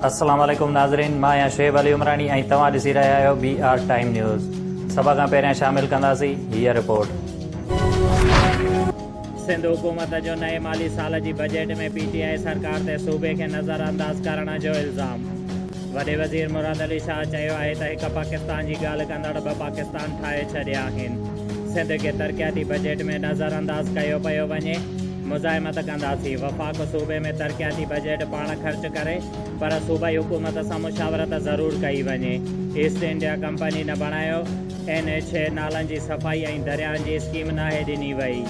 السلام عليڪم ناظرين مان آهيان شعيب علي عمراڻي ۽ توهان ڏسي رهيا آهيو بي آر ٽائيم نيوز سڀ کان پهريان شامل ڪنداسين هيء رپورٽ سنڌ حڪومت جو نئين مالي سال جي بجيٽ ۾ پي ٽي آء سرڪار تي صوبي کي نظرانداز ڪرڻ جو الزام وڏي وزير مراد علي شاهه چيو آهي ته هڪ پاڪستان جي ڳالهه ڪندڙ ٻه پاڪستان ٺاهي ڇڏيا آهن سنڌ کي ترقياتي بجيٽ ۾ نظر انداز ڪيو پيو وڃي، مزاحمت ڪنداسين، وفاق صوبي ۾ ترقياتي بجيٽ پاڻ خرچ ڪري پر صوبائي حڪومت سان مشاورت ضرور ڪئي وڃي، ايسٽ انڊيا ڪمپني نه بڻايو، اين ايڇ اي، نالن جي صفائي ۽ درياهن جي اسڪيم ناهي ڏني وئي.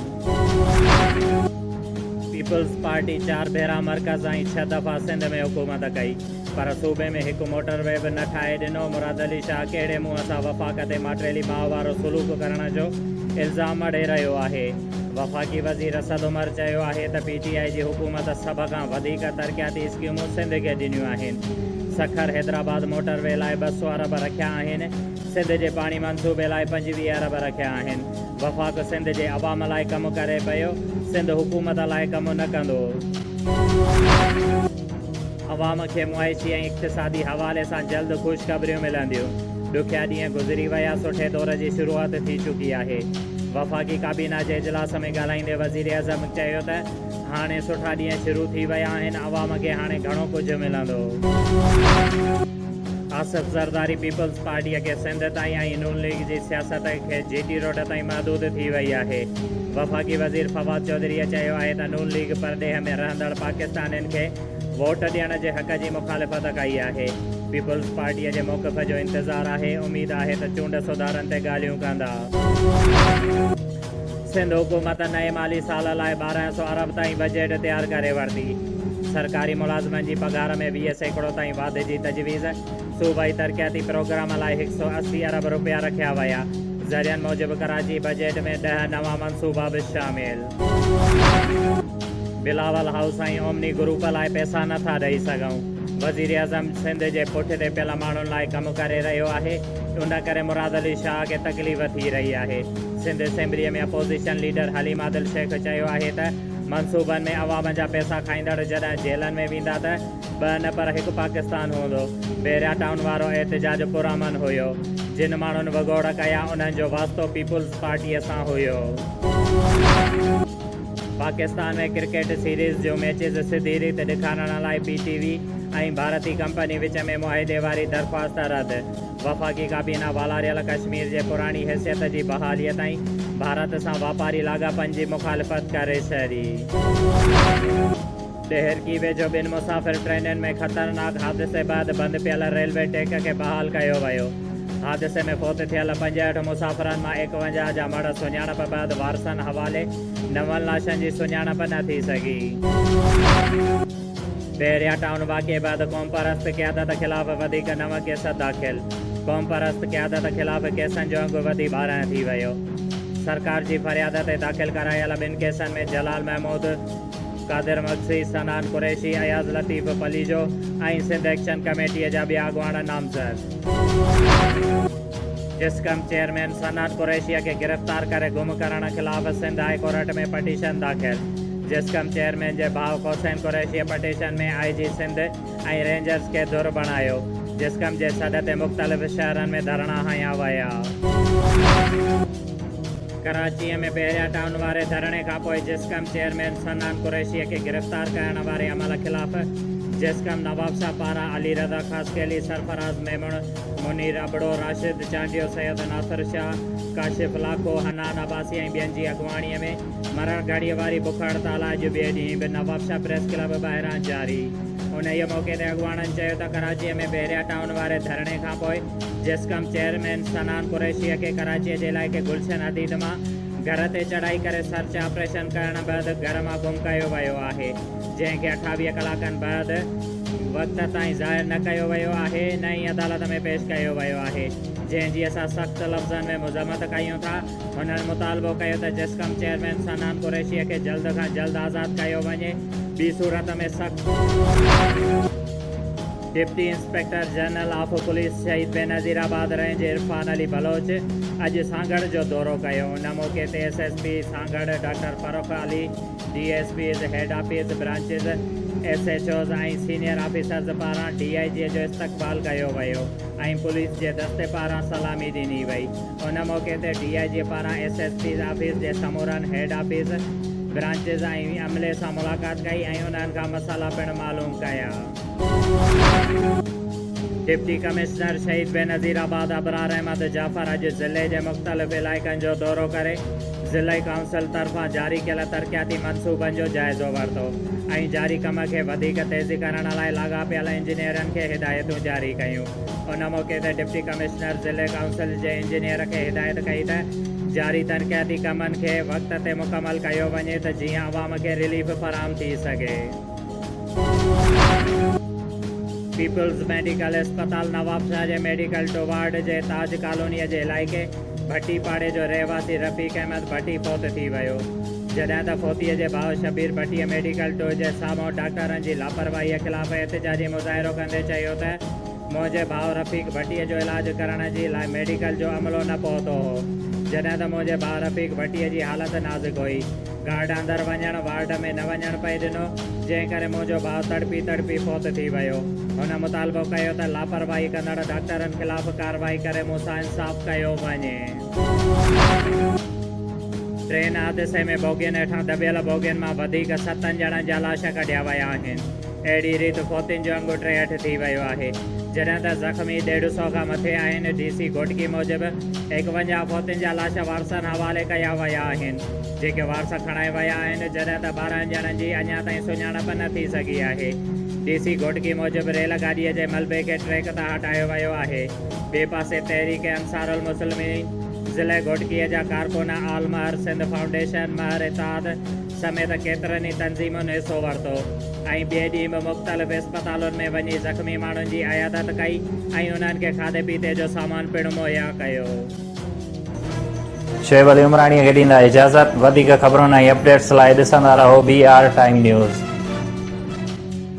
پيپلز پارٽي چار ڀيرا مرڪز ۽ ڇهه دفعا سنڌ ۾ حڪومت ڪئي. پر صوبي ۾ هڪ موٽر وي به نه ٺاهي ڏنو، مراد علي شاهه ڪهڙي منهن سان وفاق تي ماٽريلي ماء وارو سلوڪ ڪرڻ جو الزام مڙهي رهيو آهي، وفاقي وزير اسد عمر چيو آهي ته پي ٽي آء جي حڪومت سڀ کان وڌيڪ ترقياتي اسڪيمون سنڌ کي ڏنيون آهن، سکر حيدرآباد موٽر وي لاء ٻه سؤ ارب رکيا آهن، سنڌ جي پاڻي منصوبي لاء پنجويهه ارب رکيا آهن، وفاق سنڌ جي عوام لاء ڪم ڪري پيو، سنڌ حڪومت لاء ڪم نه ڪندو. عوام کي معاشي ۽ اقتصادي حوالي سان جلد خوشخبريون ملنديون، ڏکيا ڏينهن گذري ويا، سٺي دور جي شروعات ٿي چڪي آهي. وفاقي ڪابينا جي اجلاس ۾ ڳالهائيندي وزيراعظم چيو ته هاڻي سٺا ڏينهن شروع ٿي ويا آهن، عوام کي هاڻي گهڻو ڪجهه ملندو. آصف زرداري پيپلز پارٽيء کي سنڌ تائين ۽ نون ليگ جي سياست کي جي ٽي روڊ تائين محدود ٿي وئي آهي. وفاقي وزير فواد چوڌريء چيو آهي ته نون ليگ پرڏيهه ۾ رهندڙ پاڪستانين کي ووٽ ڏيڻ جي حق جي مخالفت ڪئي آهي، پيپلز پارٽيء جي موقف جو انتظار آهي، اميد آهي ته چونڊ سڌارن تي ڳالهيون ڪندا. سنڌ حڪومت نئين مالي سال لاء ٻارهن سؤ ارب تائين بجيٽ تيار ڪري ورتي، سرڪاري ملازمن جي پگهار ۾ ويهه سيڪڙو تائين واڌ جي تجويز، صوبائي ترقياتي پروگرام لاء هڪ سؤ اسي ارب رپيا رکيا ويا، ذريعن موجب ڪراچي بجيٽ ۾ ڏهه نوان منصوبا به شامل. بلاول هائوس ۽ اومني گروپ لاء پئسا نه ٿا ڏئي سگهون، وزيراعظم سنڌ جي پٺ تي پيل ماڻهن لاء ڪم ڪري رهيو آهي، ان ڪري مراد علي شاهه کي تڪليف ٿي رهي آهي، Sindh assembly ۾ opposition leader Haleem Adil Shaikh چيو آهي ته منصوبن ۾ عوام جا پئسا کائيندڙ جڏهن جيلن ۾ ويندا ته ٻه نه پر هڪ پاڪستان هوندو، بحريا ٽائون وارو احتجاج پرامن هيو، جن ماڻهن وڳوڙ ڪيا انهن جو واسطو پيپلز پارٽيء سان هيو. پاڪستان ۾ ڪرڪيٽ سيريز جون ميچز سڌي ريت ڏيکارڻ لاء پي ٽي وي ۽ ڀارتي ڪمپني وچ ۾ معاهدي واري درخواست رد، وفاقي ڪابينا والاريل ڪشمير جي پراڻي حيثيت جي بحاليء تائين ڀارت سان واپاري لاڳاپن جي مخالفت ڪري ڇڏي. ڏهرڪي ويجهو ٻن مسافر ٽرينن ۾ خطرناڪ حادثي بعد بند پيل ريلوي ٽيڪ کي بحال ڪيو ويو. حادثي ۾ فوت ٿيل پنجهٺ مسافرن مان ايڪونجاهه جا مڙهه سڃاڻپ بعد وارثن حوالي، نون لاشن جي سڃاڻپ نه ٿي سگهي. بحريا ٽائون واقعي بعد قومپرست قيادت خلاف وڌيڪ نو ڪيس داخل، قومپرست قيادت خلاف ڪيسن جو انگ وڌي ٻارنهن ٿي ويو. سرڪار جي فرياد تي داخل ڪرايل ٻن ڪيسن ۾ جلال محمود، قادر مگسي، صنعان قريشي، اياز لطيف پليجو ۽ سنڌ ايڪشن ڪميٽيء جا ٻيا اڳواڻ نامزد. جسقم چيئرمين صنعان قريشيء کي گرفتار ڪري گم ڪرڻ خلاف سنڌ هاء ڪورٽ ۾ پٽيشن داخل جسقم چيئرمين جي ڀاء حسين قريشيء petition ۾ I G Sindh ۽ Rangers کي ڌر بڻايو، جسقم جي سڏ تي مختلف شهرن ۾ ڌرڻا هنيا ويا. ڪراچيء ۾ بحريا ٽائون واري ڌرڻي کانپوء جسقم چيئرمين صنعان قريشيء کي گرفتار ڪرڻ واري عمل خلاف جسقم نوابشاهه پاران علي رضا خاصخيلي، سرفراز ميمڻ، منير ابڙو، راشد چانڊيو، سيد ناصر شاهه، ڪاشف لاکو، حنان عباسي ۽ ٻين جي اڳواڻيء ۾ مرڻ گهڙيء واري بک هڙتال اڄ ٻئي ڏينهن به نوابشاهه پريس ڪلب ٻاهران جاري. انهيء موقعي تي اڳواڻن چيو ته ڪراچيء ۾ بحريا ٽائون واري ڌرڻي کانپوء جسقم چيئرمين صنعان قريشيء کي ڪراچيء جي علائقي گلشن حديد مان گهر تي چڙهائي ڪري سرچ آپريشن ڪرڻ بعد گهر مان گم ڪيو ويو آهي، جنهن کي اٺاويهه ڪلاڪن بعد وقت تائين ظاهر نه ڪيو ويو آهي نه ئي عدالت ۾ پيش ڪيو ويو آهي، جنهن جي اسان سخت لفظن ۾ مذمت ڪيون ٿا، هنن مطالبو ڪيو ته جسقم چيئرمين صنعان قريشيء کي جلد کان جلد آزاد ڪيو وڃي، ٻي صورت ۾ سخت. Deputy inspector general of police Shaheed Benazir آباد رينج عرفان علي بلوچ اڄ سانگهڙ جو دورو ڪيو ان موقعي تي S S P Sanghar doctor Farrukh Ali D S Ps head office branches S H Os ۽ senior officers پاران ڊي آء جي جو استقبال ڪيو ويو ۽ پوليس جي دستي پاران سلامي ڏني وئي ان موقعي تي ڊي آء جي پاران ايس ايس پيز آفيس جي سمورن هيڊ آفيس برانچز ۽ عملي سان ملاقات ڪئي ۽ انهن کان مسئلا پڻ معلوم ڪيا. ڊپٽي ڪمشنر شهيد بينظير آباد ابرار احمد جعفر اڄ ضلعي جي مختلف علائقن جو دورو ڪري ضلعي ڪائونسل طرفان جاري ڪيل ترقياتي منصوبن جو جائزو ورتو ۽ جاري ڪم کي وڌيڪ تيزي ڪرڻ لاء لاڳاپيل انجنيئرن کي هدايتون جاري ڪيون ان موقعي تي ڊپٽي ڪمشنر ضلعي ڪائونسل جي انجنيئر کي هدايت ڪئي ته جاري ترقياتي ڪمن کي وقت تي مڪمل ڪيو وڃي ته جيئن عوام کي رليف فراهم ٿي سگهي. پيپلز ميڊيڪل اسپتال نوابشاهه جي ميڊيڪل ٽو وارڊ جي تاج ڪالونيء جي علائقي ڀٽي پاڙي جو رهواسي رفيق احمد ڀٽي فوت ٿي ويو، جڏهن ته فوتيء جي ڀاء شبير ڀٽيء ميڊيڪل ٽو جي سامهون ڊاڪٽرن جي لاپرواهيء خلاف احتجاجي مظاهرو ڪندي چيو ته منهنجي ڀاء رفيق ڀٽيء جو علاج ڪرڻ جي لاء ميڊيڪل جو عملو نه پهتو هو، جڏهن ته منهنجي ڀاء رفيق ڀٽيء جي حالت نازڪ هئي. گارڊ اندر وڃڻ، وارڊ ۾ نه وڃڻ پئي ڏنو، جنهن ڪري منهنجو ڀاء تڙپي تڙپي فوت ٿي ويو. هن مطالبو ڪيو ته لاپرواهي ڪندڙ ڊاڪٽرن خلاف ڪارروائي ڪري مون سان انصاف ڪيو وڃي. ٽرين حادثي ۾ بوگين هيٺان دٻيل بوگين مان وڌيڪ ستن ڄڻن جا لاش ڪڍيا ويا آهن. اهڙي ريت فوتين جو انگ ٽيهٺ ٿي ويو آهي، جڏهن ته زخمي ڏيڍ سؤ کان مٿي آهن، ڊي سي گهوٽڪي موجب ايڪونجاهه فوتين جا لاش وارثن حوالي ڪيا ويا آهن. جيڪي وارث کڻائي ويا آهن، جڏهن ته ٻارهن ڄڻن جي اڃا تائين سڃاڻپ نه ٿي سگهي آهي. ڊي سي گهوٽڪي موجب ريل گاڏيء جي ملبي کي ٽريڪ تان هٽايو ويو آهي. ٻئي پاسي تحريڪ انصارالمسلمين ضلعي گهوٽڪيء جا ڪارڪن آل مهر سنڌ فائونڊيشن، مهر اتحاد سميت ڪيترن ئي تنظيمن حصو ورتو ۽ ٻئي ڏينهن به مختلف اسپتالن ۾ وڃي زخمي ماڻهن جي عيادت ڪئي ۽ انهن کي کاڌي پيتي جو سامان پڻ مهيا ڪيو. شعيب علي عمراڻيء کي ڏيندا اجازت وڌيڪ خبرن ۽ اپڊيٽس لاء ڏسندا رهو بي آر ٽائيم نيوز.